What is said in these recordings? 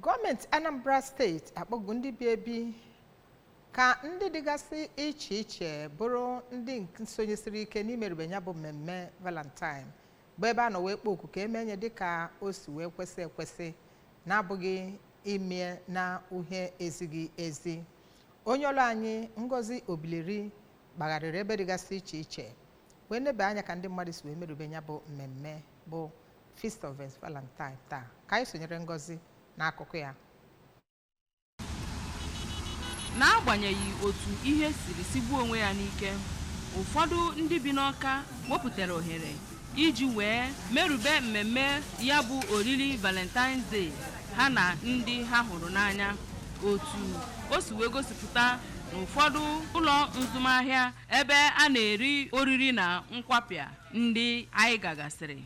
gọọmenti anambra steeti akpọgo ndị bi ebi ka ndị dịgasị iche iche bụrụ ndị nke sonyesiri ike n'imerube ya bụ mmemme valentine bụ ebe a nọ wee kpọọ oku ka e mee ya dịka o si wee kwesị ekwesị na-abụghị ime na uhie ezighị ezi onye ọrụ anyị ngozi obileri gbagharịrị ebe dịgasị iche iche wee nebe anya ka ndị mmadụ si wee merube ya bụ mmemme bụ Feast of St. Valentine taa ka anyị sonyere Ngozi n'akụkọ ya n'agbanyeghị otu ihe siri sigbuo onwe ya n'ike ụfọdụ ndị bi n'ọka wepụtara ohere iji wee merube mmemme ya bụ oriri valentine's day ha na ndị ha hụrụ n'anya otu o si wee gosipụta n'ụfọdụ ụlọ nzụmahịa ebe a na-eri oriri na nkwapịa ndị anyị gagasịrị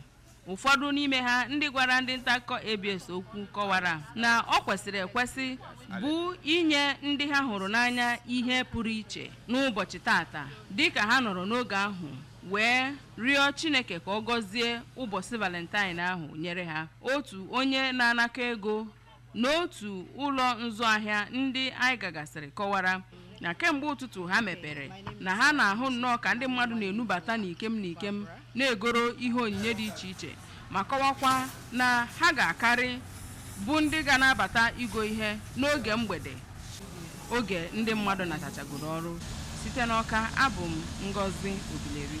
ụfọdụ n'ime ha ndị gwara ndị nta akụkọ ABS okwu kọwara na o kwesịrị ekwesị bụ inye ndị ha hụrụ n'anya ihe pụrụ iche n'ụbọchị taata dịka ha nọrọ n'oge ahụ wee rịọ Chineke ka ọ gọzie ụbọchị Valentine ahụ nyere ha otu onye na-anakọ ego n'otu ụlọ nzụ ahịa ndị anyị gagasịrị kọwara na kemgbe ụtụtụ ha mepere na ha na-ahụ nnọọ ka ndị mmadụ na-enubata n'ikem n'ikem na-egoro ihe onyinye dị iche iche ma kọwakwa na ha ga-akarị bụ ndị ga na-abata igo ihe n'oge mgbede oge ndị mmadụ natachagoro ọrụ site n'ọka abụ m ngozi obileri